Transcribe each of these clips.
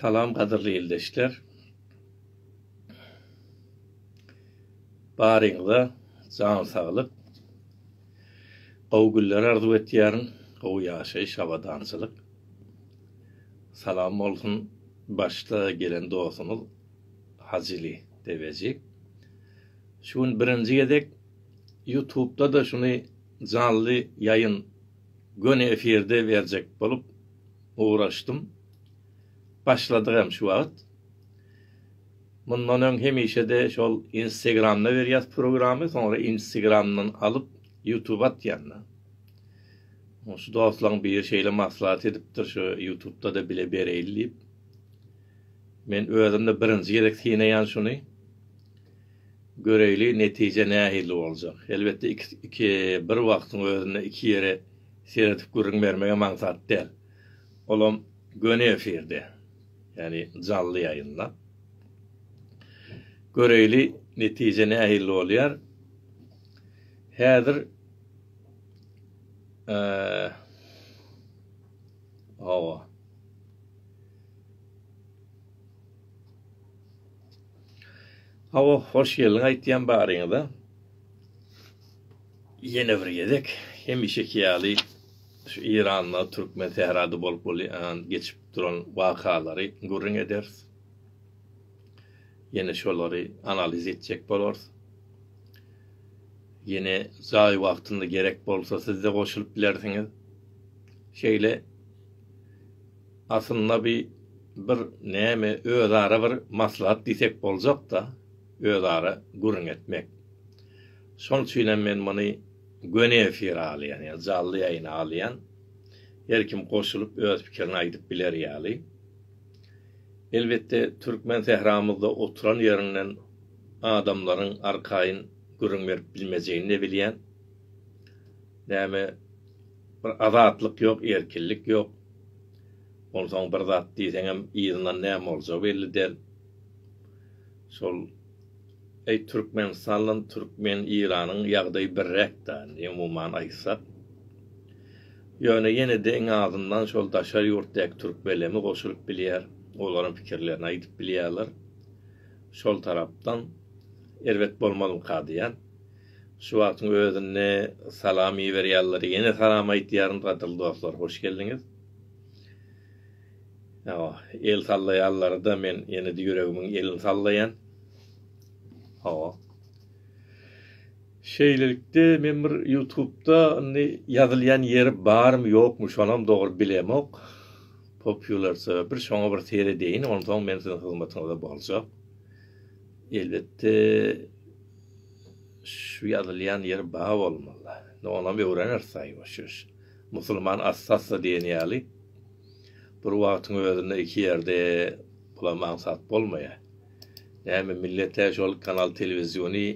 Salam gadyrly ildeşler. Baryňyza jan saglyk. Gowy günler arzuw etýärin, gowy ýaşaýyş, abadançylyk. Salam bolsun başda gelen dostumyz Hajyly Deveji. Şu gün birinji gezek Ýutubda-da şuny janly ýaýyn, göni efirde berjek bolup ugraşdym. Başladyk hem şu wagt. Mundan öň hemişede şol instegramda berýäs programy soňra instegramdan alyp ýutuba atýanda. Şu dostlaň biri şeýle maslahat edipdir şu ýutubdada bile bereýli diýip. Men özümde birinji gezek synaýan şuny. Göreýli netije nähili boljak. Elbetde iki iki bir wagtyň özünde iki ýere seredip gürrüň bermegem aňsat däl. Olam göni efirde. Ýagny janly ýaýynda. Göreýli netije nähili bolýar. Häzir eee Hawa. Hawa, hoş geldiň aýtýan baryňyza. Ýene bir gezek hemişeki ýaly şu Iranda, Türkmen Sährada bolup bolýan geçip duran wakalary gürrüň ederis. Ýene şolary analiz etjek bolarys. Ýene jaý wagtynda gerek bolsa siz-de goşulyp bilersiňiz. Şeýle aslynda bi bir näme özara bir maslahat diýsek boljak-da, özara gürrüň etmek. Şonuň üçin hem men muny göni efire alýan, ýa jally ýaýyna alýan. Her kim goşulyp öz pikirini aýdyp biler ýaly. Elbetde türkmen sähramyzda oturan ýerinden adamlaryň arkaýyn gürrüň berip bilmejegini de bilýän. Näme bir azatlyk ýok erkinlik ýok. Onsoň bir zat diýseňem yzyndan näme boljagy belli däl. Şol Eý Türkmenistanlan Türkmen Iranyň ýagdaýy birräk da umuman aýtsak. Ýöne ýenede iň azyndan şol daşary ýurtdaky Türkmeleme goşulyp bilýär, olaram pikirlerini aýdyp bilýärler. Şol tarapdan erbet bolmazmyka diýýän. Şu wagtyň özünde salam iberýärler ýene salam aýtýaryn gadyrly dostlar hoş geldiňiz. Hawa, el sallaýanlary-da men ýene-de ýüregimiň elini sallaýan. Hawa. Şeýlelikde, men bir Ýutubda indi ýazylýan ýeri barmy, ýokmy, şonam dogry bilemok. Popýularsa bir şoňa bir seredeýin, onsoň men siziň hyzmatyňyzda boljak. Elbetde, şu ýazylýan ýeri bar bolmaly. Indi onam öwreneris, aý, boş-boş. Musulman assa-assa diýen ýaly, bir wagtyň özünde iki ýerde bulam aňsat bolmaýar. Näme millet-ä şol kanal telewiziony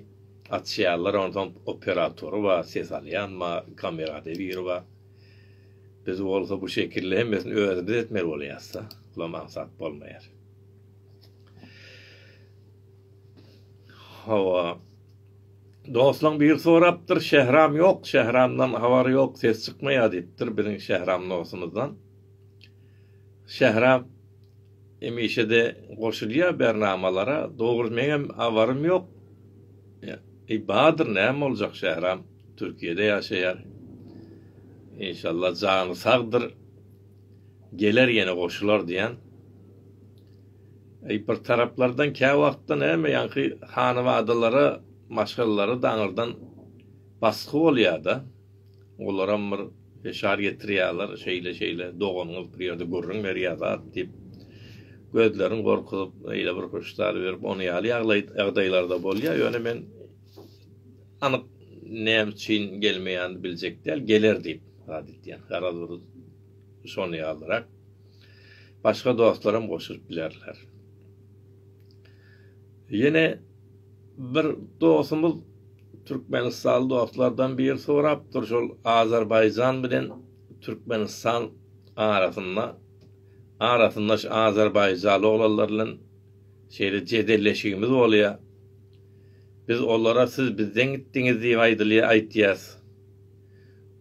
açýarlar, onsoň operatory bar, ses alýan bar, kamerada biri bar. Biz bolsa bu şekilli hemmesini özümiz etmeli bolýas-da, bulam aňsat bolmaýar. Hawa. Dostlaň biri sorapdyr, Şähram ýok, Şähramdan habary ýok, ses çykmaýar diýipdir biziň Şähram dostumyzdan. Şähram hemişe-de goşulýar bernamalara, dogry meňem habarym ýok. Eý, bardyr, näme boljak, Şähram Türkiýede ýaşaýar. Inşallah jany sagdyr. geler ýene goşular diýen bir taraplardan käwagtda näme ýaňky hanybadalara maşgalalara daňyrdan basgy bolýada olaram bir feşar getirýaler şeýle şeýle doganyňyz bir ýerde gürrüň berýa zat diýip gözlerin gorkuzyp eýle bir huşdar berip ony ýaly ýagdaýlarda bolýa ýöne men Anyk näme üçin gelmeýänini biljek däl, geler diýip wada edýän. Garaz bir şony ýazyrak. Başga dostlar hem goşulyp bilerler. Ýene bir dostumyz Türkmenistanly dostlardan biri sorapdyr, şol Azerbaýjan bilen Türkmenistan arasynda arasynda şu azerbaýjanly oglanlar bilen şeýle jedelleşigimiz bolýar. Biz olara siz bizden gitdiňiz diýip aýdylýa aýtýas.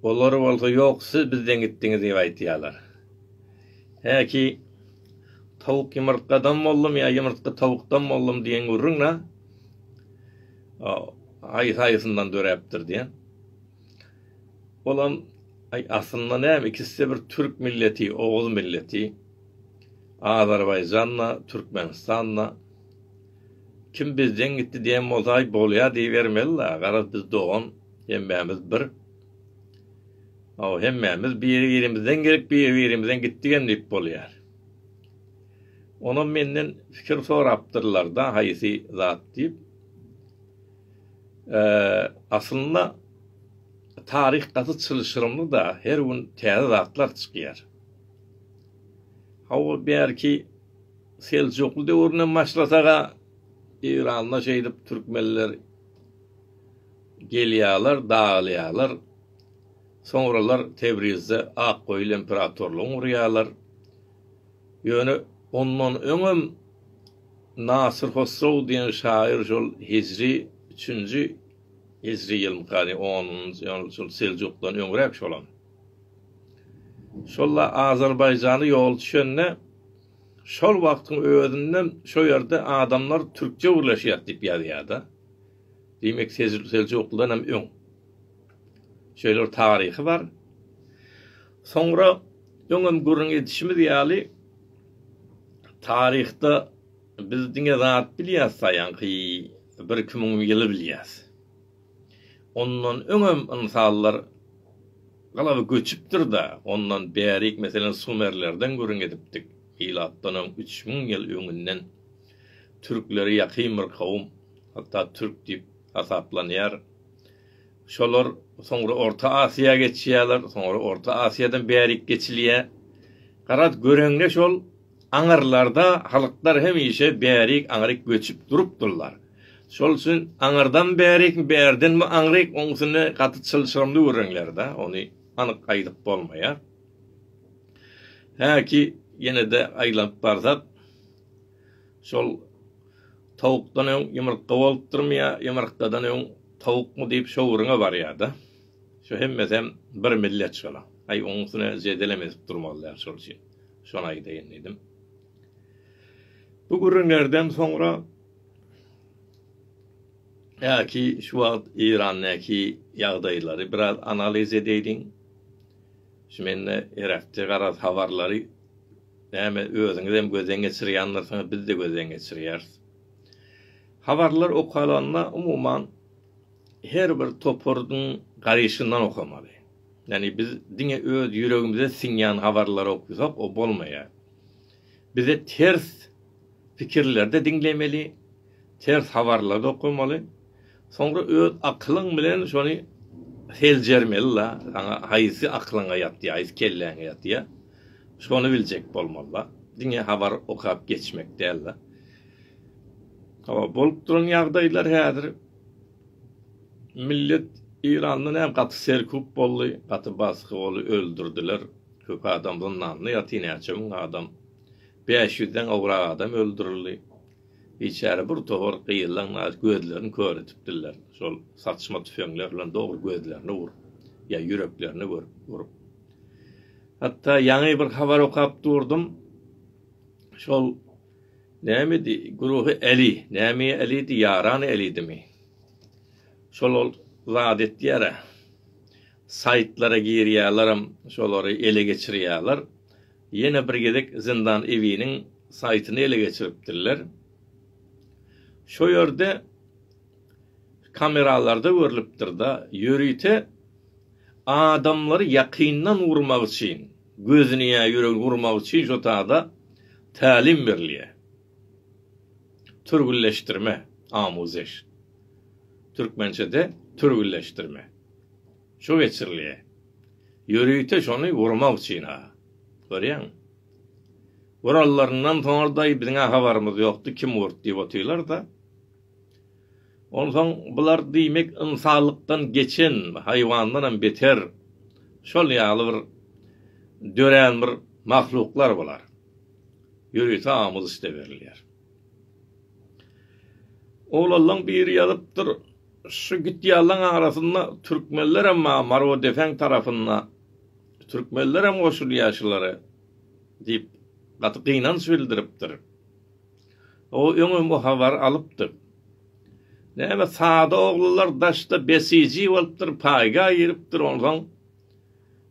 Olar bolsa ýok siz bizden gitdiňiz diýip aýtýalar. Häki tawuk ýumurtgadan boldum ýa ýumurtga tawukdan boldum diýen gürrüň na aýsaýysyndan döräpdir diýen. Olam aý aslynda näme ikiside bir türk milleti, oguz milleti. Azerbaýjanda, Türkmenistanda. Kim bizden gitdi diýen bolsaý bolýa diýibermeli-la, garaz biz dogan, hemmämiz bir. Hawa, hemmämiz biri-birimizden gelip, biri-birimizden gitdik hem diýip bolýar. Onam menden pikir sorapdyrlar-da haýsy zat diýip. Aslynda taryh gaty çylşyrymly-da, her gün täze zatlar çykýar. Hawa, bärki Seljukly döwründen başlasaga Eýranda şeýdip türkmenler gelýärler, dagylýarlar. Soňralar Tebrizde Akgoýul imperatorlygyny gurýarlar. Ýöne ondan öňem Nasyr Hosrow diýen şaýyr şol hijri üçünji hijri ýylmykany onunjy ýyl şol Seljukdan öňräk şolam. Şol-a Azerbaýjana ýoly düşende Şol wagtyň özünde şo ýerde adamlar türkçe gürleşýär diýip ýazýarda. Diýmek seljuklydan hem öň. Şeýle bir taryhy bar. Soňra öňem gürrüň edişimiz ýaly taryhda biz diňe zat bilýäs saýanky bir iki müň ýyly bilýäs. Ondan öňem ynsanlar galaba göçüpdir-de, ondan bärik, meselem, sumerlerden gürrüň edipdik, milatdan öň üç müň ýyl öňünden türklere ýakyn bir kowum, hatda türk diýip hasaplanýar. Şolar soňra Orta Asyýa geçýärler, soňra Orta Asyýadan bärik geçilýär. Garaz, göreňde şol. Aňyrlarda halklar hemişe bärik-aňryk göçüp durupdyrlar. Şol üçin aňyrdan bärik, bärdenmi aňryk, oň üstüne gaty çylşyrymly gürrüňler-dä, ony anyk aýdyp bolmaýar. Häki ýene-de aýlanyp barsak, şol Tawukdan öň ýumurtga bolupdyrmy ýa ýumurtgadan öň tawukmy diýip şo gürrüňe barýar-da. Şo hemmesem bir millet şolar. Aý, oň üstüne jedelem edip durmazlar şol üçin. Şony aýdaýyn diýdim. Bu gürrüňlerden soňra Äki şu wagt Eýrandaky ýagdaýlary biraz analiz edäýdiň. Şu mende gerekçe garaz habarlary näme özüňizem gözden geçirýändirsiňiz, biz de gözden geçirýäris. Habarlar okalanda umuman her bir toparyň garaýşyndan okamaly. Ýagny biz diňe öz ýüregimize siňýän habarlary okysak o bolmaýar. Bize ters pikirlerde diňlemeli, ters habarlary okamaly. Soňra öz akylyň bilen şony seljermeli la, saňa haýsy aklyňa ýatýar, haýsy kelläňe ýatýar. Şony biljek bolmaly la. Diňe habar okap geçmek däl la. Hawa bolup duran ýagdaýlar häzir Millet Iranda näme gaty serkup boldy gaty basgy boldy öldürdiler köp adam zyndanda ýaty näçe müň adam bäş ýüzden gowrak adam öldürildi biçäre bir towar gyýylan naýy gözlerini kör etipdirler şol saçma tüfeňler bilen dogry gözlerine urup ýa ýüreklerine görüp urup hatda ýaňy bir habar okap durdum şol Nämedi güruhy Äli? Näme Älidi, ýarany Älidimi? Şol ol zat etýär-ä. Saýtlara girýärlerem, şolary ele geçirýärler. Ýene bir gezek Zyndan Ewiniň saýtyny ele geçiripdirler. Şo ýerde kameralarda görlüpdir-da, ýörite adamlary ýakyndan urmak üçin. Gözüni ýa ýüregi gurmagy üçin şo tada tälim berilýär. Türgülleşdirme, amuzeş. Türkmençede türgülleşdirme. Şo geçirilýär. Ýörite şony gurmak üçin-ha. Görýäňmi? Guralaryndan soňra-da biziň-ä habarymyz ýokdy, kim gurt diýip otyrlar-da. Onsoň bular diýmek ynsanlykdan geçen, haýwandanam beter şol ýaly bir dörän bir mahluklar bular. Ýörite aňymyz üste berilýär. Oglanlaň biri ýazypdyr, Şu gitýänlaň arasynda türkmenlerem bar, Marodefen tarapynda türkmenlerem goşulýar şulara diýip gaty gynanç bildiripdir. O öňem o habary alypdyr. Näme sada oglular daşda besiji bolupdyr, paýga giripdir, onsoň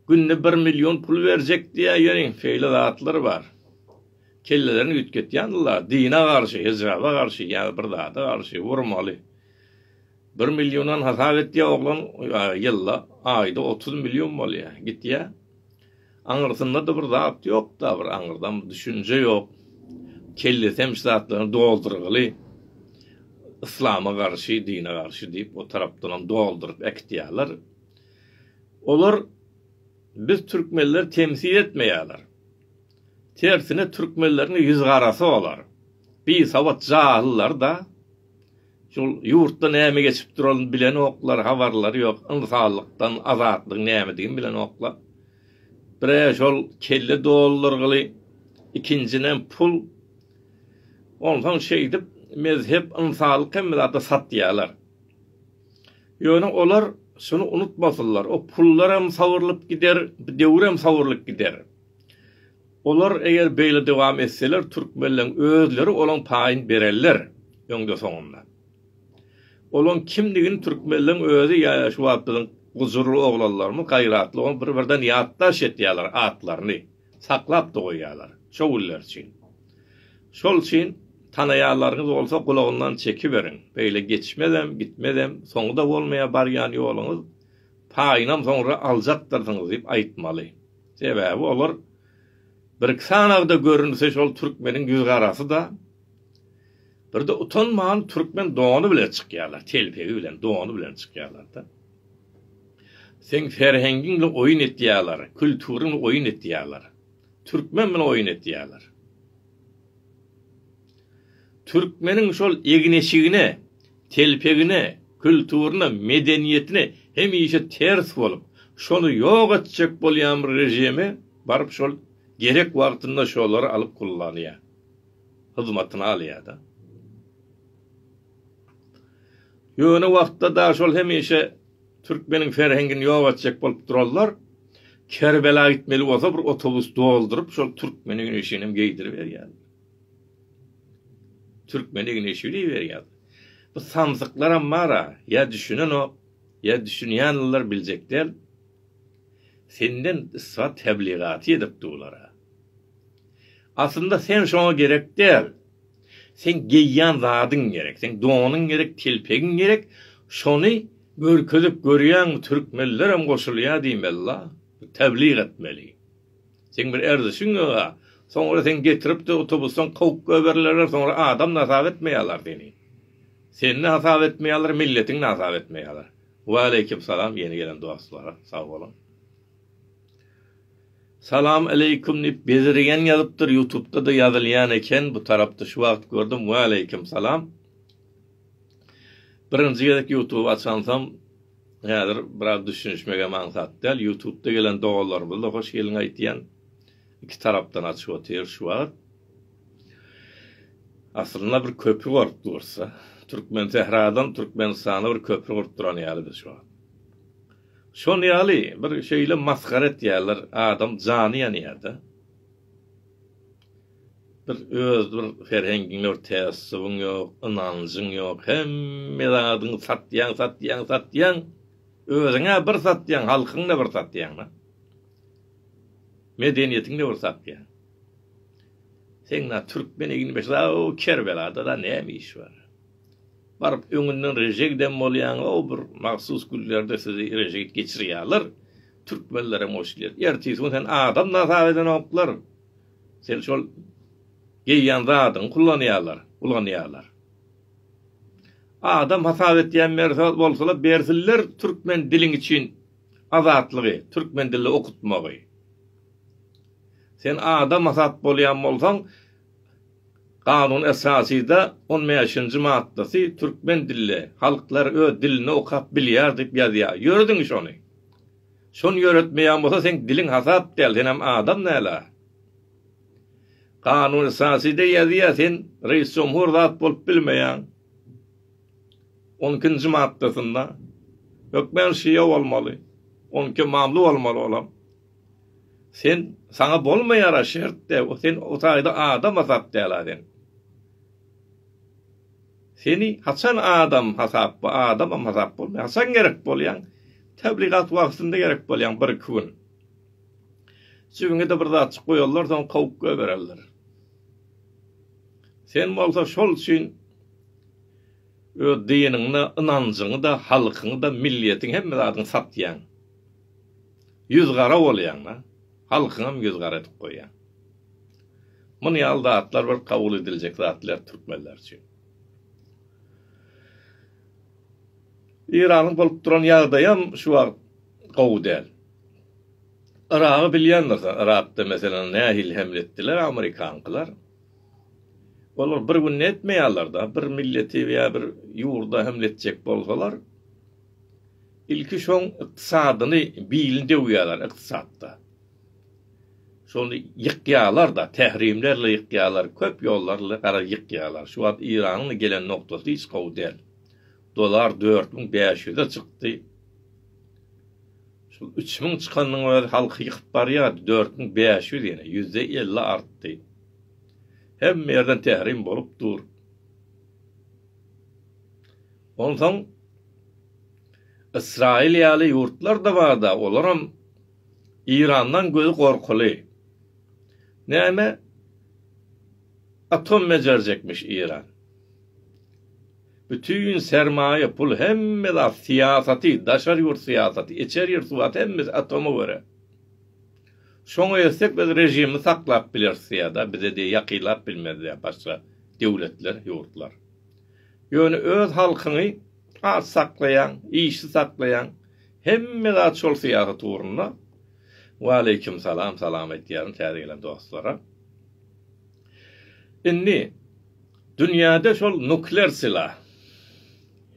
günde bir million pul berjek diýýär, ýöne şeýle zatlar bar. Kellelerini üýtgetýändirler, dine garşy, hijaba garşy ýa bir zada garşy, urmaly. Bir milliondan hasap etýär oglan, ýylda, aýda otuz million bolýar, gitýär. Aňyrsynda-da bir zat ýok-da, bir aňyrdan düşünje ýok. Kellesi hem şu zatlaryň doldurgyly. Yslama garşy, dine garşy diýip, o tarapdanam dolduryp äkitýärler. Olar biz türkmenleri temsil etmeýärler. Tersine türkmenleriň ýüzgarasy olar. Bisawat jahyllary-da Şol ýurtda näme geçip duralyny bilenoklar, habarlary ýok, ynsanlykdan azatlygyň nämedigini bilenoklar. Bire şol kelle doldurgyly, ikinjinem pul. Onsoň şeýdip mezhep, ynsanlyk hemme zady satýarlar. Ýöne olar şuny unutmasynlar, o pullaram sawrulyp gider, bu döwürem sawrulyp gider. Olar eger beýle dowam etseler türkmenleň özleri olaň paýyny bererler öňde soňunda. Olaň kimdigini türkmenleň özi ýa şu wagt biziň gujurly oglanlarymyz gaýratly oglan bir birden ýatdaş etýaler atlaryny saklap da goýýalar şo günler üçin. Şol üçin tanaýalarňyz bolsa gulagyndan çekiberiň beýle geçmezem gitmezem soňuda bolmaýa barýan ýoluňyz paýynam soňra aljakdyrsyňyz diýip aýtmaly. Sebäbi olar birki sanagda görünse şol türkmeniň ýüz garasy-da. Birde utanman türkmen dony bilen çykýarlar, telpegi bilen, dony bilen çykýarlar-da. Seň ferhengiň bilen oýun etýärler, külturyň oýun etýärler. Türkmen bilen oýun etýärler. Türkmeniň şol egin-eşigine, telpegine, külturyna, medeniýetine hemişe ters bolup, şony ýok etjek bolýan bir režimi baryp şol gerek wagtynda şolary alyp kullanýar. Hyzmatyna alýar-da. Ýöne wagtda dagy şol hemişe türkmeniň ferhengini ýok etjek bolup duranlar Kerbela gitmeli bolsa bir otobus dolduryp şol türkmeniň egin-eşiginem geýdiriberýärler. Türkmen Igneşew diýiberýär. Bu samsyklaram bar-a, ýa düşünenok, ýa düşünýänler biljek däl. Senden isbat tebligaty edipdi bular-a. Aslynda sen şoňa gerek däl. Seň geýýän zadyň gerek, seň donuň gerek, telpegiň gerek, şony görkezip görýäňmi, türkmenlerem goşulýar diýmeli-la, teblik etmeli. Seň bir erzişiň ýoga. Soňra seň getiripde otobusdan kowup göberilerler soňra adam nasap etmeýalar seni. Seni nasap etmeýalar milletiň nasap etmeýalar. Waleýkim salam ýeni gelen dostlara sag boluň. Salam aleýkum diýip bezirgen ýazypdyr ýutubda-da ýazylýan eken bu tarapda şu wagt gördüm waleýkim salam. Birinji gezek ýutuby açansam Häzir biraz düşünişmegem aňsat däl, ýutubda gelen doganlarymyzda hoş geliň aýtýan, iki tarapdan açyp otyr şu wagt. Aslynda bir köpri bolup dursa, Türkmensähradan Türkmenistana bir köpri gurup duran ýaly biz şu wagt. Şol ýaly bir şeýle masgara etýärler, adam jany ýanýarda. Bir öz bir serhengiň ýok, tässubyň ýok, ynanjyň ýok, hemme zadyňy satýaň, satýaň, satýaň. Özüň-ä bir satýaň, halkyňy-da bir satýaň-da. Medeniýetiňi-de bir satýaň. Seň na türkmen egin beşi a o Kerbelada-da näme iş bar? Baryp öňünden reje giden bolýaň, o bir mahsus günlerde sizi reje git geçirýärler. Türkmenlerem o işleri. Ertesi gün seni adam-da hasap edenoklar. Sen şol geýýän zadyňy kullanýarlar, ulanýarlar. Adam hasap etýän mersa bolsalar bersinler türkmen diliň üçin azatlygy, türkmen dilini okutmagy. Sen adam hasap bolýan bolsaň Kanun esasyda on bäşinji maddasy türkmen dilli halklar öz dilini okap bilýär diýip ýazýar. Ýöre diňiş ony. Şony ýöretmeýän bolsa seň diliň hasap däl senem adam näla. Kanun esaside ýazýa sen reis jomhur zat bolup bilmeýäň. On ikinji maddasynda. Hökmen şia bolmaly. On iki mamly bolmaly olam. Sen saňa bolmaýara şert de sen o taýda adam hasap däla sen. Seni haçan adam hasap bu adamam hasap bolmaýar haçan gerek bolýaň tebligat wagtynda gerek bolýaň bir iki gün jibiňede bir zatjyk goýarlar soň kowup goýbererler sen bolsa şol üçin öz diniňde ynanjyňyda halkyňyda millietiň hemme zadyňy satýaň ýüz gara bolýaňda halkyňam ýüz gara edip goýýaň. Muny ýaly zatlar bir kabul ediljek zat däl türkmenler üçin. Iranyň bolup duran ýagdaýam şu wagt gowy däl. Yragy bilýändirsiň, Yrakda meselem nähili hemle etdiler amerikankylar. Olar bir günde etmeýärler-de, bir milleti ýa bir ýurda hemle etjek bolsalar, ilki şoň ykdysadyny bilini döwýärler ykdysatda. Şony ýykýalar-da, tärimlerle ýykýalar, köp ýollarly gara ýykýalar. Şu wagt Iranyň-da gelen nokdasy hiç gowy däl. Dolar dört müň bäş ýüze çykdy. Şol üç müň çykanynyň özi halky ýykyp barýar, dört müň bäş ýüz ýene, ýüzde elli artdy. Hemme ýerden tärim bolup dur. Onsoň Ysraýyl ýaly ýurtlar-da bar-da, olaram, Irandan gözi gorkuly. Näme atom bejerjekmiş Iran. Bütin sermaýa pul hemme zat syýasaty daşary ýurt syýasaty içer ýurt syýasaty hemmesi atoma göre. Şoňa etsek biz režimi saklap bileris diýýär da bize diýýär ýakylap bilmez diýýär başga döwletler ýurtlar. Ýöne öz halkyňy aç saklaýaň işi saklaýaň Hemme zat şol syýasat ugrunda. Waleýkim salam, salam aýdýaryn täze gelen dostlara. Indi dünýäde şol nuklear sylah,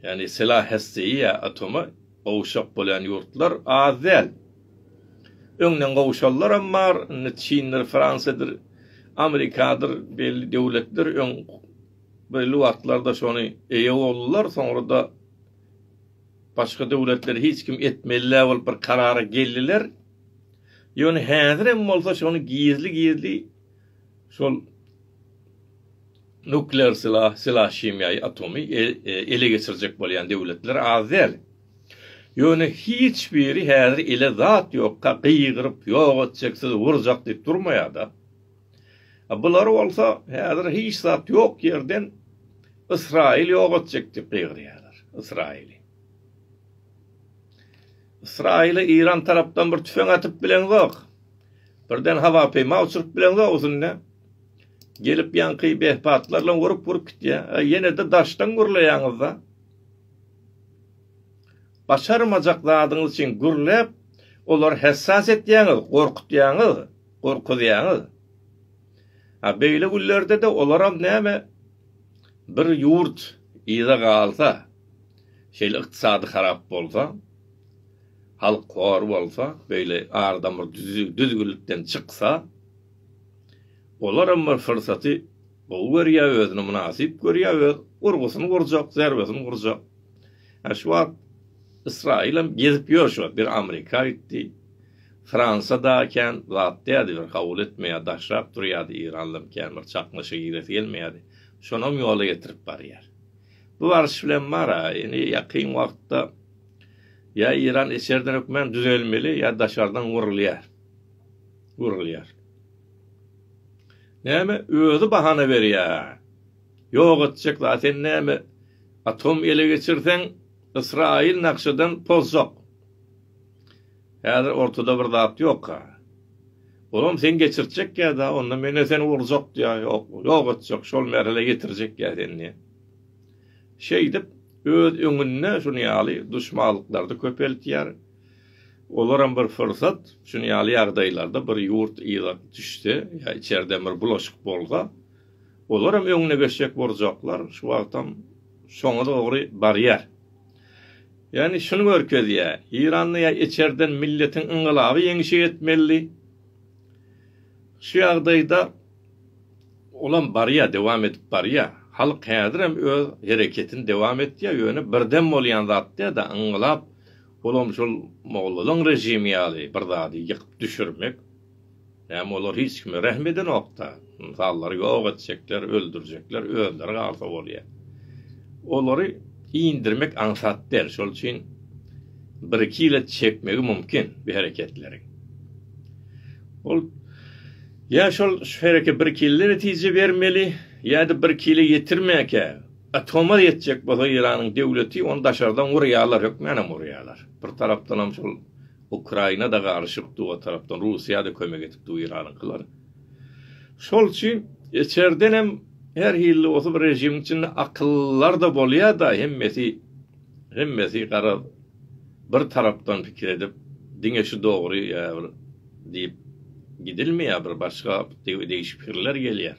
ýagny sylah hässeýi ýa atoma gowşak bolýan ýurtlar az däl. Öňden gowşanlaram bar, indi Çindir, Fransiýadyr, Amerikadyr belli döwletler öň belli wagtlarda şony eýe boldular, soňra-da Başga döwletler hiç kim etmelidäl bolup bir karara geldiler. Ýöne häzirem bolsa şony gizli-gizli şol nuklear sylah, sylah himiýaýy, atomy ele geçirjek bolýan döwletler az däl. Ýöne hiç biri häzir ele zat ýokka gygyryp ýok etjek sizi urjak diýip durmaýada. Bular bolsa häzir hiç zat ýok ýerden Ysraýyl ýok etjek diýip gygyrýarlar. Ysraýyly. Ysraýyla Iran tarapdan bir tüfeň atyp bileňzok. Birden hawa peýma uçuryp bileňzok üstünde. Gelip ýaňky behpatlarla urup-urup gitýär. E, ýene-de daşdan gürleýäňizde. Başarmajak zadyňyz üçin gürläp, olar hessas etýäňiz, gorkutýaňyz. Gorkuzýaňyz. A beýle günlerde-de olaram näme, bir ýurt yza galsa, şeýle ykdysady harap bolsa, halk hor bolsa, beýle ar-damar düzgünlikden çyksa, olaram bir pursaty Gowy görýä özüni mynasyp görýä öz urgusyny urjak zerbesini urjak. Hä şu wagt Ysraýylam gezip ýör şu wagt bir Amrika gitdi. Fransa da kän zat dädi bir kabul etmeýä daşrak durýady Iranlam kän bir çaknyşa giresi gelmeýädi. Şonam ýola getirip barýar. Bu baryş bilen bara indi ýakyn wagtda ýa Iran içerden hökmän düzelmeli ýa daşardan urulýar. Urulýar. Näme özi bahana berýä. Ýok etjek zat sen näme atom ele geçirseň ysraýyl nakşadan pozjak. Häzir ortada bir zat ýokka. Olam sen geçirtjekkä da onda mene seni urjak diýä ýok ýok etjek şol merhele ýetirjekkä sen diýä. Şeýdip öz öňünde şunýaly duşmalyklary köpeltýär. Olaram bir pursat, şuny ýaly ýagdaýlarda bir ýurt yza düşse ýa içerden bir bulaşyk bolsa, olaram öňüne geçjek boljaklar, şu wagtam şoňa dogry barýar. Ýagny şuny görkezýär, Eýranda ýa içerden milletiň yngylaby ýeňişe ýetmelidi. Şu ýagdaýda olam barýar, dowam edip barýar. Halk häzirem öz hereketini dowam etýär, ýöne birden bolýan zat däl-de, yngylap, Olam şol mollalaň režimi ýaly bir zady ýykyp düşürmek. Näme olar hiç kime rehm edenokda. Ynsanlary ýok etjekler, öldürjekler, özleri galsa bolýa. Olary indirmek aňsat däl. Şol üçin bir iki ýyla çekmegi mumkin bi hereketleri. Ol ýa şol şu hereke bir iki ýylda netije bermeli, ýa-da bir iki ýyla ýetirmäkä. Atoma ýetjek bolsa Iranyň döwleti ony daşardan urýarlar hökmänam urýarlar. Bir tarapdanam şol Ukraina-da garyşyk dur o tarapdan Russiýa-da kömek edip dur Iranyňkylar. Şol üçin içerdenem her hilli bolsa bir režimiň içinde akyllylar-da bolýar-da hemmesi hemmesi garaz bir tarapdan pikir edip diňe şu dogry ýa bir diýip gidilmeýär bir başga degişik pikirler gelýär.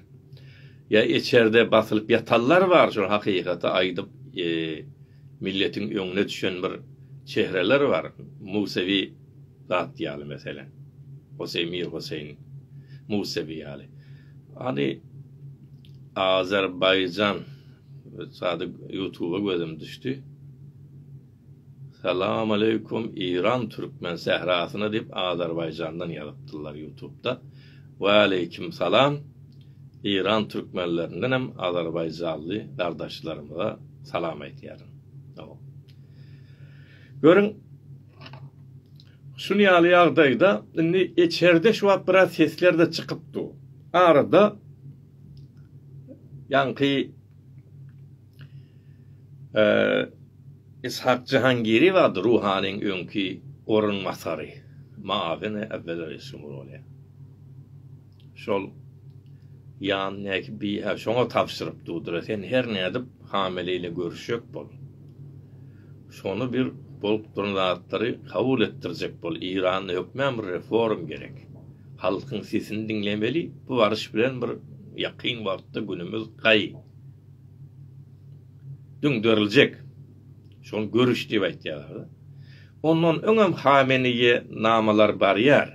Ýa eçerde basylyp ýatanlar bar şol hakykaty aýdyp milletiň öňüne düşen bir çehreler bar Musewi zat ýaly meselem Hoseý Mir Hoseýn Musewi ýaly hany Azerbaýjan sady ýutuba gözüm düşdi. Salam aleykum Iran Türkmen sährasyna diýip Azerbaýjandan ýazypdyrlar ýutubda Waleýkim salam Iran Türkmenlerinden hem Azerbaýjanly gardaşlarymyza salam aýtýaryn Salam Görüň şun ýaly ýagdaýda indi eçerde şu wagt biraz seslerde çykyp dur arada ýaňky Ishak Jahangiriýew atly ruhanyň öňki orunbasary, mugawini äwwel-ä Resumur bolýar. Şol Ýan Näki bi-ä şoňa tabşyryp durdur-a, sen her nädip hamele ile görüşjek bol. Şony bir bolup duran zatlary kabul etdirjek bol. Eýranda hökmän bir reform gerek. Halkyň sesini diňlemeli. Bu baryş bilen bir ýakyn wagtda günümiz gaý. Düňderiljek. Şony görüş diýip aýtýarlar-da. Ondan öňem Hameneýe namalar barýar.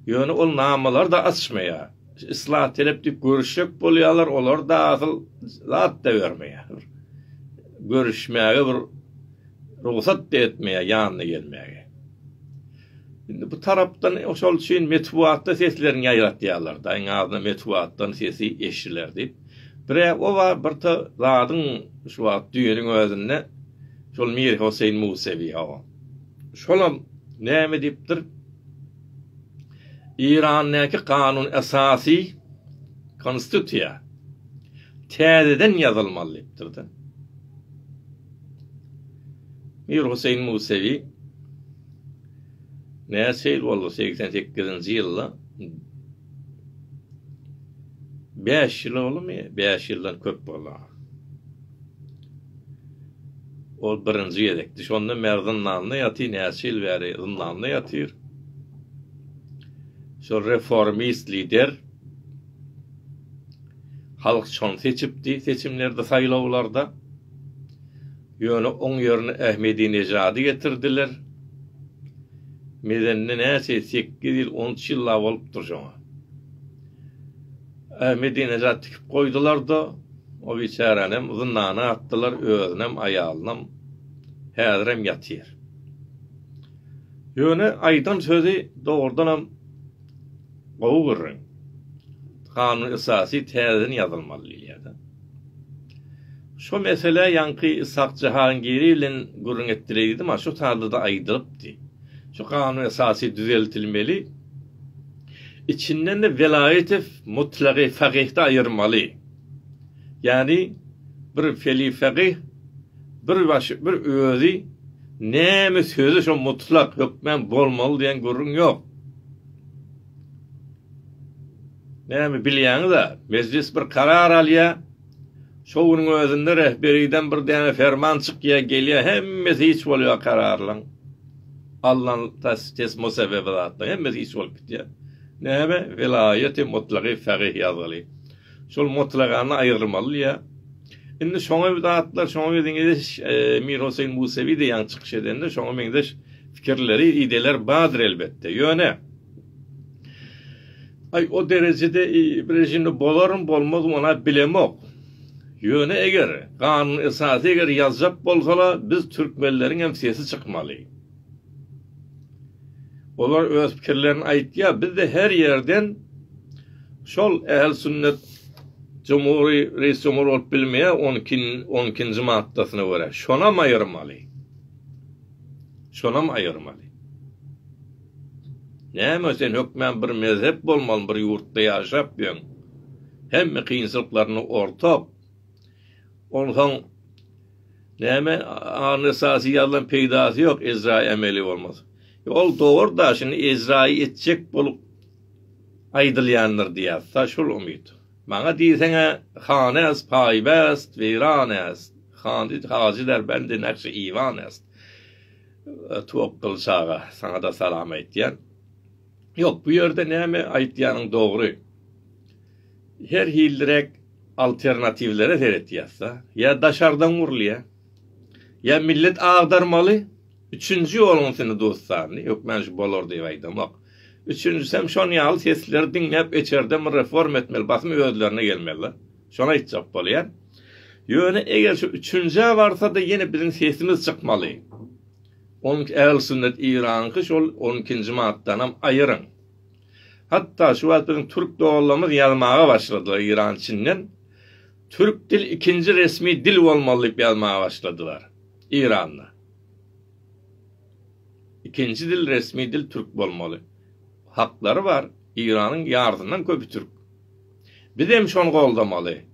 Ýöne ol namalar-da açmaýar. Yslah talap diýip görüşjek bolýarlar, olar-da asyl zat-da bermeýär. Görüşmäge bir rugsat-da etmeýär ýanyna gelmäge. Indi bu tarapdan şol üçin metbugatda seslerini ýaýratýarlar-da, iň azyndan metbugatdan sesi eşidiler diýip. Bir-ä o bar, bir ta zadyň şu wagt düýnüň özünde şol Mirhoseýn Musewi, hawa, şolam näme diýipdir, Eýrandaky kanun esasy, konstitusiýa, täzeden ýazylmaly diýipdir-de. Mir Huseýn Musewi näçe ýyl boldy segsen sekizinji ýylda bäş ýyl boldumy bäş ýyldan köp boldy ol birinji gezekdi şondan bäri zyndanda ýaty näçe ýyl bäri zyndanda ýatyr şol reformist lider Halk şony seçipdi seçimlerde saýlawlarda. Ýöne oň ýerine Ahmedinejady getirdiler. Medende näçe sekiz ýyl on üç ýylla bolupdyr şoňa. Ahmedinejat tikip goýdularda o biçäränem zyndana atdylar özünem aýalynam häzirem ýatyr. Ýöne aýdan sözi dogrudanam Gowy gürrüň. Kanun esasy täzeden ýazylmaly diýilýärda. Şo meselä ýaňky Ishak Jahangiri bilen gürrüň etdireý diýdim ha, şo taýda-da aýdylypdy. Şu kanun esasy düzeltilmeli. Içinden-de Welaýetew mutlagy fakyhda aýyrmaly. Ýagny bir felifagy bir başy bir özi näme sözi şo mutlak hökmän bolmaly diýen gürrüň ýok. Näme bilýäňiz-ä, mejlis bir karar alýa, şo günüň özünde rehberiden bir däne ferman çykýa gelýä hemmesi hiç bolýa kararlaň alnan tesmo sebebe zatlaň hemmesi hiç bolup gitýä. Näme welaýaty mutlagy fagih ýazgyly. Şol mutlagany aýyrmaly ýa. Indi şoňa bir zatlar, şoňa bir meňzeş Mir Hoseýn Musewi diýýän çykyş edende şoňa meňzeş pikirleri, ideýalar bardyr elbetde. Ýöne Aý o derejede bir režimde bolarmy, bolmazmy ony bilemok. Ýöne eger Kanun Esasy eger ýazjak bolsalar biz türkmenleriň hem sesi çykmaly. Olar öz pikirlerini aýtýar. Bizde her ýerden şol ähli sünnet jumhury reis jumhur bolup bilmeýär on iki on ikinji maddasyna görä. Şonam aýyrmaly. Şonam aýyrmaly. Näme sen hökmän bir mezhep bolmaly bir ýurtda ýaşap ýöň. Hemme kynçylyklaryny ortak. Onsoň Näme aňry esasy ýazlan peýdasy ýok Ezraýy ämeli bolmaz. Ol dogurda şuny Ezraýy etjek bolup aýdylýandyr diýýär ta şul umyt. Maňa diýseňä han äst paýbäst weýran äst handy hajy derbändi nakşy iwan äst. Twokgyl çaga saňada salam aýtýan. Ýok bu ýerde näme aýtýanyň dogry. Her hilliräk alternatiwlere seretýäs-de. Ýa daşardan gurulýar, ýa millet agdarmaly, üçünji ýoluň seni dostany, hökman şu bolar diýip aýdamok. Üçünjisem şon ýaly sesleri diňläp eçerde bir reforma etmeli, basym özlerine gelmeliler. Şony aýtjak bolýan. Ýöne eger şu üçünjä barsa-da ýene biziň sesimiz çykmaly. Onuňky ähli sünnet Iranyňky şol on ikinji maddanam aýyryň. Hatda şu wagt biziň türk doganlarymyz ýazmaga başladylar Iran Çinden Türk dil ikinji resmi dil bolmaly diýip ýazmaga başladylar Iranda. Ikinji dil resmi dil türk bolmaly. Haklary bar. Iranyň ýarysyndan köpi türk. Bizem şony goldamaly.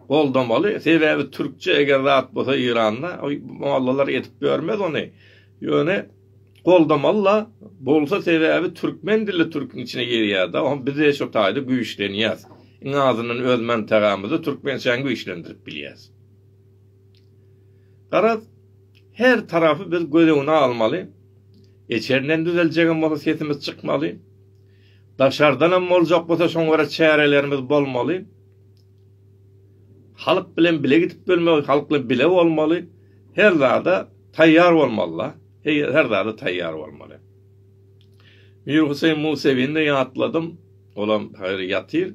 Goldamaly sebäbi türkçe eger zat bolsa Iranda mollalar edip görmez ony ýöne goldamalyla bolsa sebäbi türkmen dilli türküň içine girýärda o bize şo taýda güýçlenýäs iň azyndan öz mantagamyzy türkmençäni güýçlendirip bilýäs. Garaz her tarapy biz göz öňüne almaly eçerden düzeljegem bolsa sesimiz çykmaly daşardanam boljak bolsa şoňa görä çärelerimiz bolmaly. Halk bilen bile gidip bilmeli, halk bilen bile bolmaly, her zada taýýar bolmaly-da, her zada taýýar bolmaly. Mir Huseýn Musewini ýatladym, olam häzir ýatyr.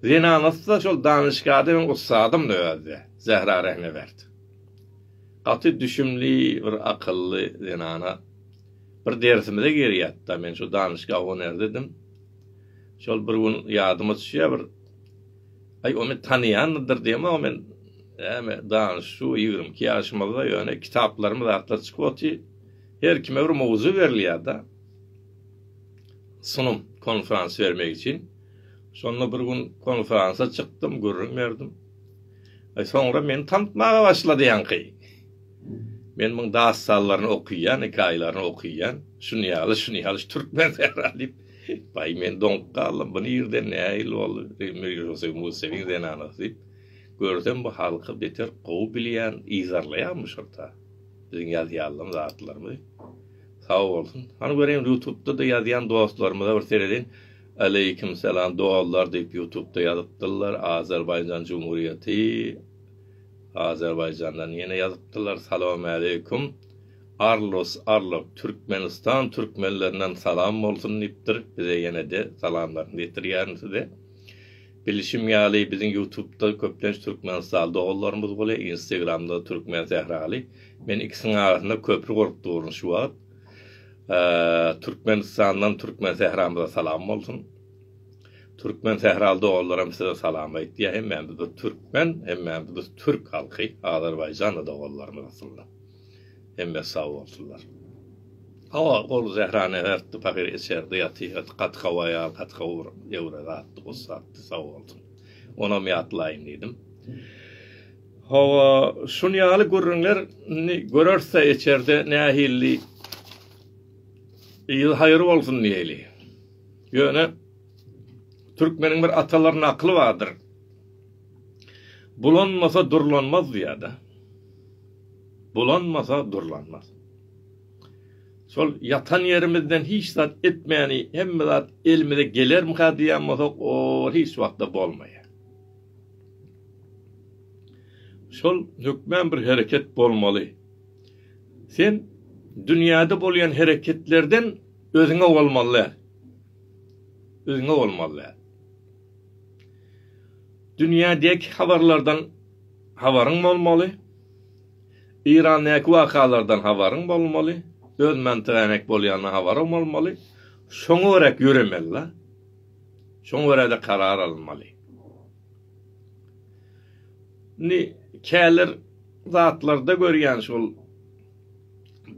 Zenanasy-da şol danyşgada meň ussadymdy özi-de, Zähra Rehnebert. Gaty düşümli, bir akylly zenana. Bir dersimize girýärdi-de, men şu danyşga honeridedim. Şol bir gün ýadyma düşýär, bir. Aý ony tanaýandyr diýemok men näme danyş şu ýigrimi iki ýaşymyzda ýöne kitaplarymyz zatlar çykyp oty her kime bir mowzuk berilýärda sunum konferans bermek üçin şonda bir gün konferansa çykdym gürrüň berdim Aý soňra meni tanıtmaga başlady ýaňky men muň dastanlaryny okyýan hekaýalaryny okyýan şuny ýaly şuny ýaly türkmen sähra diýip Baý men doňup galdym, bu nirden nähili boldy? Mirgülsöý Museliň zenanasy diýip, görsem bu halky beter gowy bilýän, yzarlaýanmyşyrta. Biziň ýazýalan zatlarymyzy. Sag bolsun. Hany göreýin ýutubda-da ýazýan dostlarymyza bir seredin. Aleýkim salam doglar diýip ýutubda ýazypdyrlar, Azerbaýjan Jumhuriýeti, Azerbaýjandan ýene ýazypdyrlar, Salawmaleýkum. Arlos Arlok Türkmenistan Türkmenlerinden salam bolsun diýipdir bize ýenede salamlaryny ýetirýärin size. Bilişim ýaly biziň ýutubda köplenç Türkmenistaly doganlarymyz bolýa Instagramda Türkmen Sähraly men ikisiniň arasynda köpri gurup duryn şu wagt. Türkmenistandan Türkmen Sähramyza salam bolsun. Türkmen Sähraly doganlaram size salam aýtýa hemmämiz bir Türkmen hemmämiz biz Türk halky Azerbaýjanly doganlarymyz aslynda. Hemme sag bolsunlar. Hawa, ol Zehrany ärtdi, pahyr içerdi, ýaty, ýaty, gaty gowy aýal, gaty gowy bir ýewre zatdy, ussatdy, sag bolsun. Onam ýatlaýyn diýdim. Hawa, şunýaly gürrüňler indi görersde içerde nähilli ýyl haýyr bolsun diýeli. Ýöne türkmeniň bir atalar nakyly bardyr. Bulanmasa durlanmaz diýýär-de. Bulanmasa durlanmaz. Şol ýatan ýerimizden hiç zat etmäni, hemme zat elimize gelermika diýen bolsak, ol hiç wagtda bolmaýar. Şol hökmän bir hereket bolmaly. Sen dünýäde bolýan hereketlerden özüňe bolmaly däl. Özüňe bolmaly däl. Dünýädäki habarlardan habaryň bolmaly, Irandäki wakalardan habaryň bolmaly, öz mantygäňek bolýandan habaryň bolmaly, şoňa görä ýöremeli-la. Şoňa görä-de karar alynmaly. Indi käler zatlarda görýän şol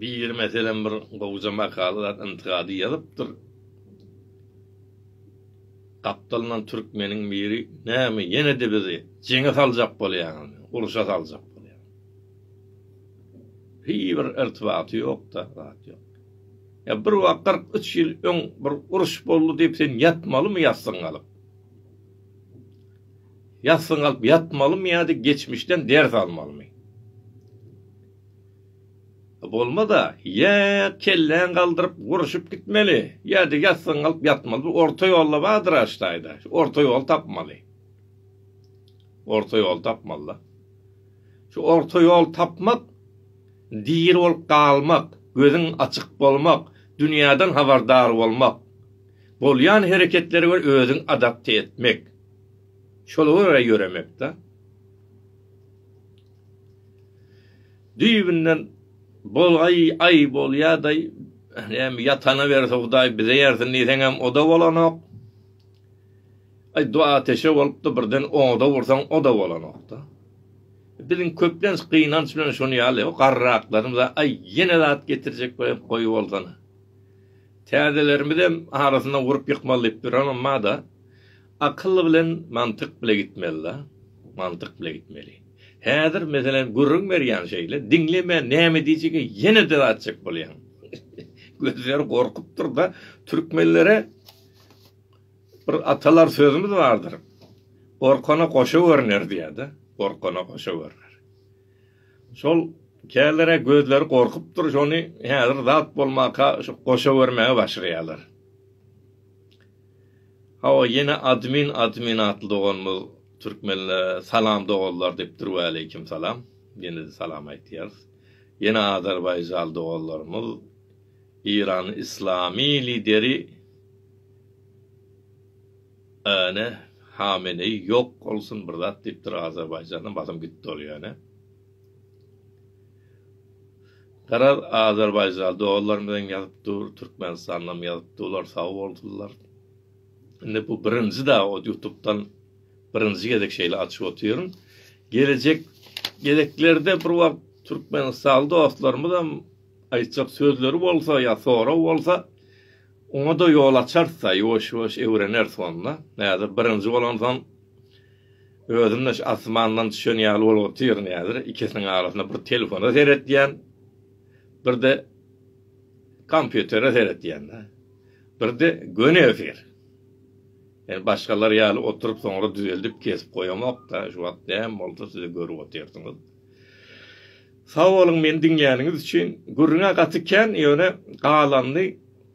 biri meselem bir gowja makala zat intygady ýazypdyr. Gapdalyndan türkmeniň biri, Näme, ýene-de bizi jeňe saljak bolýaňyzmy, urşa saljak bolýaňyzmy? Hiý, bir irtibaty ýok-da, zat ýok. Ýa bir wagt kyrk üç ýyl öň bir uruş boldy diýip, sen ýatmalymy ýassyň galyp? Ýassyň galyp ýatmalymy ýa-da geçmişden ders almalymy? Bolmaz-a, ýa kelläňi galdyryp urşup gitmeli, ýa-da ýassygyňy alyp ýatmaly, bir orta ýolla bardyr aştaýda, şu orta ýoly tapmaly. Orta ýoly tapmaly-da. Şu orta ýoly tapmak, diri bolup galmak, gözüň açyk bolmak, dünýäden habardar bolmak, bolýan hereketlere görä özüňi adapte etmek, şola görä ýöremek-dä. Düýbünden bolaý aý bolýadaý näme ýatana berse hudaý bize ýersin diýseňem oda bolanok aý do ateşe bolupdy birden oda ursaň oda bolanokda biziň köplenç gynanç bilen şony ýaly garraklarymyz aý ýene zat getirjek bolýan goýy bolsana täzelerimiz hem arasyna urup ýykmaly diýip duranymada Akyl bilen mantyk bile gitmelida, mantyk bile gitmeli. Häzir meselem gürrüň berýän şeýle, diňlemän näme diýjege ýene döw atjak bolýaň. Gözleri gorkupdyrda, türkmenlere bir atalar sözümiz bardyr. Gorkana goşa görner diýäde, gorkana goşa görner. Şol kälere gözleri gorkupdyr, şony häzir zat bolmaka şu goşa görmäge başlaýarlar. Hawa ýene admin admin atly doganymyz türkmenlä salam doganlar dipdir waleýkim salam ýenede salam aýtýarys ýene azerbaýjaly doganlarymyz iran islamy lideri ene hameneý ýok bolsun bir zat dipdir azerbaýjana basym gitdi ol ýöne. Garaz Azerbaýjan doganlar bilen ýazyp dur Türkmenistanam ýazyp dular sag bolsunlar. Indi bu birinji da o ýutupdan birinji gezek şeýle açyp otyryn. Gelejek gezeklerde bir wagt Türkmenistanly dostlarymyzam aýtjak sözleri bolsa ýa sorag bolsa oňa da ýol açarys da ýuwaş ýuwaş öwreneris onda. Häzir birinji bolansoň Özüm-de şu asmandan düşen ýaly bolup otyryn häzir, ikisiniň arasynda bir telefona seretýän, bir-de kompýutere seretýän-de. Bir-de göni efir. Ýöne başgalar ýaly oturyp soňra düzeldip kesip goýamok-da, şu wagt näme bolsa siz-de görüp otyrsyňyz. Sag boluň meni diňläniňiz üçin. Gürrüň-ä gaty kän, ýöne galanny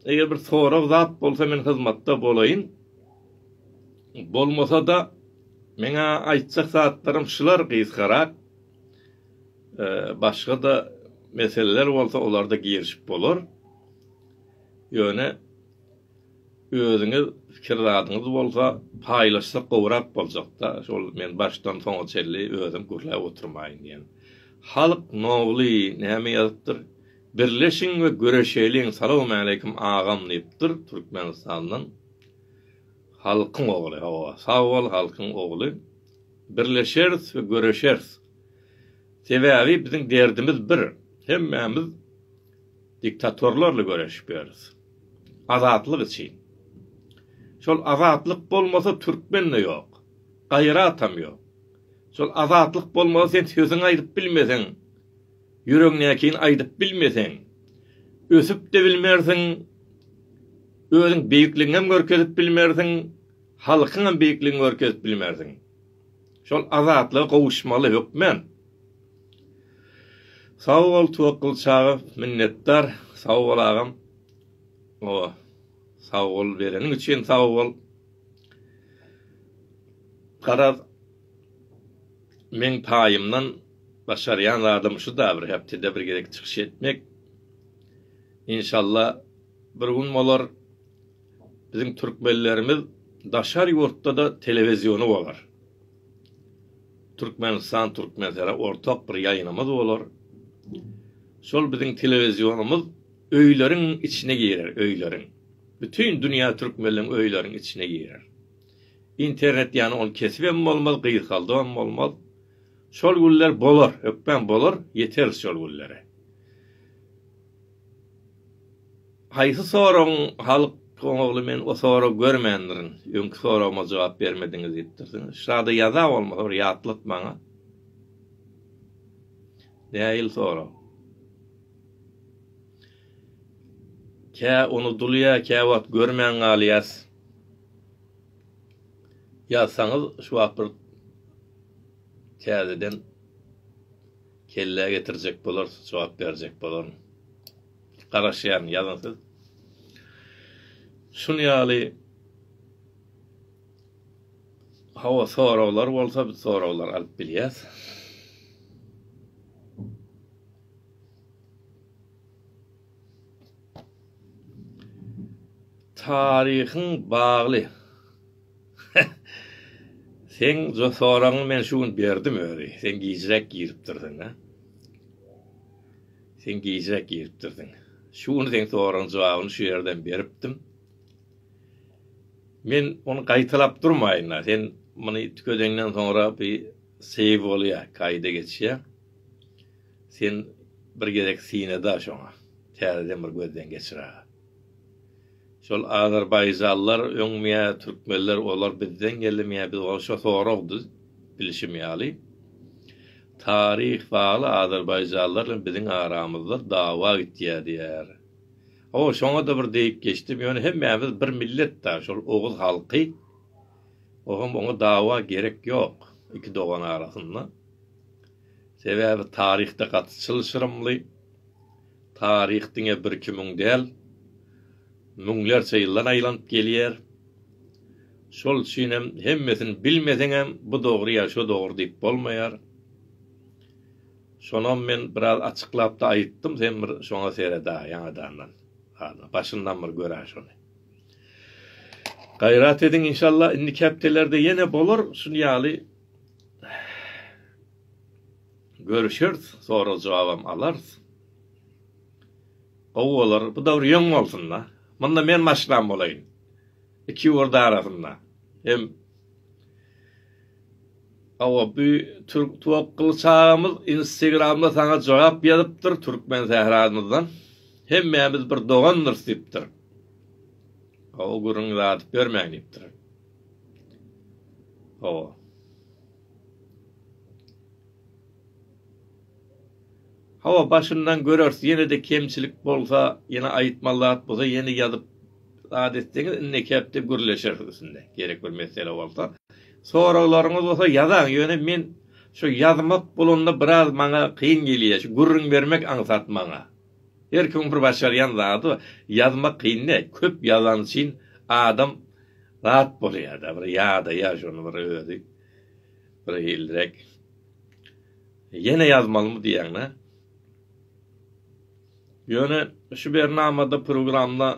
eger bir sorag zat bolsa men hyzmatda bolaýyn. Bolmasa-da, meň-ä aýtjak zatlarym şular gysgarak. Başga-da meseleler bolsa, olarda girişip bolar. Ýöne özüňiz pikir zadyňyz bolsa, paýlaşsak gowrak boljak-da, şol men başdan soňa çenli özüm gürläp oturmaýyn diýen. Halk Nobly näme ýazypdyr? Birleşiň we göreşeliň, salowmaleýkim agam diýipdir Türkmenistandan. Halkyň ogly hawa sag bol halkyň ogly birleşeris we göreşeris sebäbi biziň derdimiz bir hemmämiz diktatorlarla göreşip ýörüs azatlyk üçin şol azatlyk bolmasa türkmende ýok gaýratam ýok şol azatlyk bolmasa sen sözüňi aýdyp bilmeseň Ýüregiňdäkini aýdyp bilmeseň, ösüp-de bilmersiň, özüň beýikligiňem görkezip bilmersiň, halkyňam beýikligiňi görkezip bilmersiň. Şol azatlyga gowuşmaly hökmän. Sag bol Twakgyl çaga minnetdar sag bol agam o sag bol bereniň üçin sag bol. Garaz Meň paýymdan başarýan zadym şu-da bir hepdede bir gezek çykyş etmek. Inşalla bir gün bolar, biziň türkmenlerimiz daşary ýurtda-da telewiziony bolar. Türkmenistan, Türkmensera ortak bir ýaýynymyz bolar. Şol biziň telewizionymyz öýleriň içine girer, öýleriň. Bütin dünýä türkmenleň öýleriň içine girer. Internet ýany ol kesibem bolmaz, gysgaldybam bolmaz. Şol günler bolar, hökman bolar, ýeteris şol günlere. Haýsy soragyň halk goňagly men o soragy görmändirin. Öňki soragyma jogap bermediňiz diýipdirsiňiz. Şada ýaza bolmasa bir ýatlat maňa. Däil sorag. Kä unudylýar, kä wagt görmän galýas. ýazsaňyz şu wagt bir täzeden kellä getirjek bolarys jogap berjek bolaryn garaşýan ýazyň siz şun ýaly hawa soraglar bolsa biz soraglar alyp bilýäs Taryhyň bagly. Seň jo soragyňy men şu gün berdim özi. Sen gijräk giripdirsiň, ha? Sen gijräk giripdirsiň. Şu gün seň soragyň jogabyny şu ýerden beripdim. Men ony gaýtalap durmaýyn, ha. Sen muny tükedeňden soňra bir save bolýar, kaýda geçýär. Sen bir gezek syna-da şoňa, täzeden bir gözden geçir-ä. Şol azerbaýjanlar öňmýä, türkmenler olar bizden geldimýä, biz olara şo sorag düz, bilşim ýaly, taryh bagly azerbaýjanlar bilen biziň aramyzda dawa gitýä diýýär. Hawa, şoňa-da bir degip geçdim, ýöne hemmämiz bir millet-dä, şol oguz halky, o hem oňa dawa gerek ýok, iki dogan arasynda. Sebäbi taryhda gaty çylşyrymly, taryh diňe birkimiň däl, müňlerçe ýyldan aýlanyp gelýär. Şol üçin hem hemmesini bilmeseňem bu dogry ýa şo dogry diýip bolmaýar. Şonam men biraz açyklapda aýytdym sen bir şoňa sereda ýaňadandan. Hany başyndan bir görä şony. Gaýrat ediň inşallah indiki hepdelerde ýene bolar şun ýaly Görüşeris, sorag jogabam alarys. Gowy bolar, bu dowr ýöň bolsunda. Munda men maşglam bolaýyn. Iki ýurt arasynda. Hem Awa bu Türk Tok Gylyç agamyz Instagramda saňa jogap ýazypdyr Türkmen sähramyzdan. Hemmämiz bir dogandyrys diýipdir. Awa gürrüňizi atyp ýörmäň diýipdir. Hawa. Hawa başyndan göreris ýenede kemçilik bolsa ýene aýytmaly zat bolsa ýene ýazyp zat etseňiz indi kepde gürleşeris üstünde gerek bir mesele bolsa soraglaryňyz bolsa ýazaň ýöne men şu ýazmak bolanda biraz maňa kyn gelýä şu gürrüň bermek aňsat maňa. Her kimiň bir başarýan zady bar. Ýazmak kyn däl. Köp ýazan üçin adam rat bolýar-da, bir ýadaýar şony bir özi bir hilliräk. Ýene ýazmalymy diýýäň-dä. Ýöne şu bernamada, programda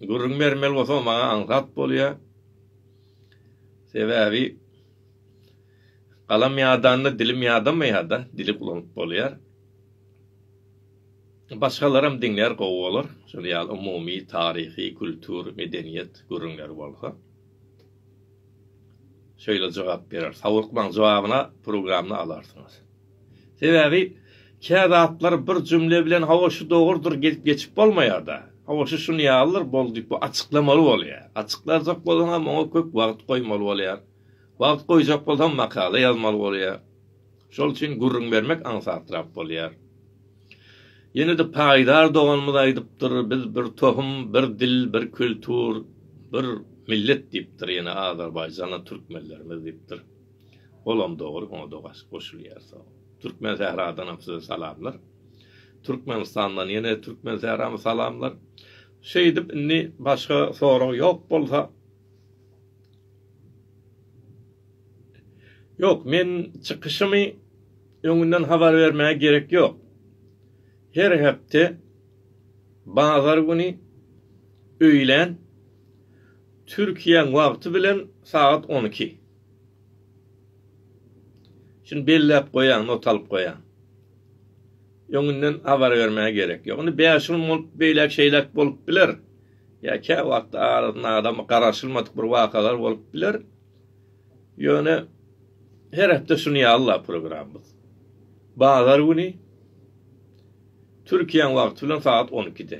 gürrüň bermeli bolsaň maňa aňsat bolýar. Sebäbi galam ýadanda dilim ýadamaýar-da, dili ulanyp bolýar. Başgalaram diňlär gowy bolar, şol ýaly umumy taryhy, kultur, medeniýet gürrüňleri bolsa. Şeýle jogap berer. Sawykmaň jogabyna programny alarsyňyz. Sebäbi kä zatlar bir jümle bilen hawa şu dogurdyr gelip geçip bolmaýarda. Hawa şu şun ýalydyr bol diýip bu açyklamaly bolýar. Açyklarjak bolsaňam oňa köp wagt goýmaly bolýar. Wagt goýjak bolsaňam makala ýazmaly bolýar. Şol üçin gürrüň bermek aňsatrak bolýar. Ýene-de paýdar doganymyz aýdypdyr, Biz bir tohum, bir dil, bir kultur, bir millet diýipdir, ýene Azerbaýjana türkmenlerimiz diýipdir. Olam dogry, oňa da goşulýar. Sag bol. Türkmensähradanam size salamlar. Türkmenistandan ýene Türkmensährama salamlar. Şeýdip indi başga sorag ýok bolsa, Ýok, men çykyşymy öňünden habar bermäge gerek ýok. Her hepde bazar güni öýlän Türkiýäň wagty bilen sagat on iki. Şuny belläp goýaň, not alyp goýaň. Öňünden habar bermäge gerek ýok. Indi bäş gün bolup beýläk-şeýläk bolup biler. Ýa käwagt arasyna adamy garaşylmadyk bir wakalar bolup biler. Ýöne her hepde şuny ýazla programmamyz. Bazar güni Türkiýäň wagty bilen sagat on ikide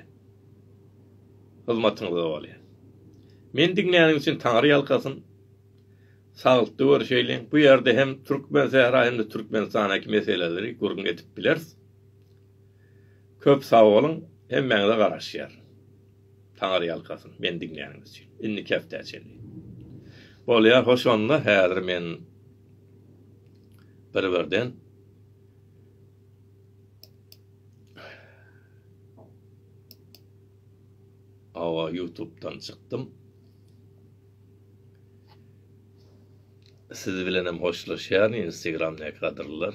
hyzmatyňyzda bolýar. Meni diňläniň üçin Taňry ýalkasyn. Saglytly görüşeýliň. Bu ýerde hem Türkmensähra hem-de Türkmenistandaki meseleleri gürrüň edip bileris. Köp sagboluň hemmäňize garaşýaryn. Taňyrýalkasyn meni diňläniňiz üçin. Indiki hepdä çenli. Bolýar hoş onda häzir men bir birden Awa YouTube'dan çykdym. Siz bilenem hoşlaşýaryn Instagram näkadirler.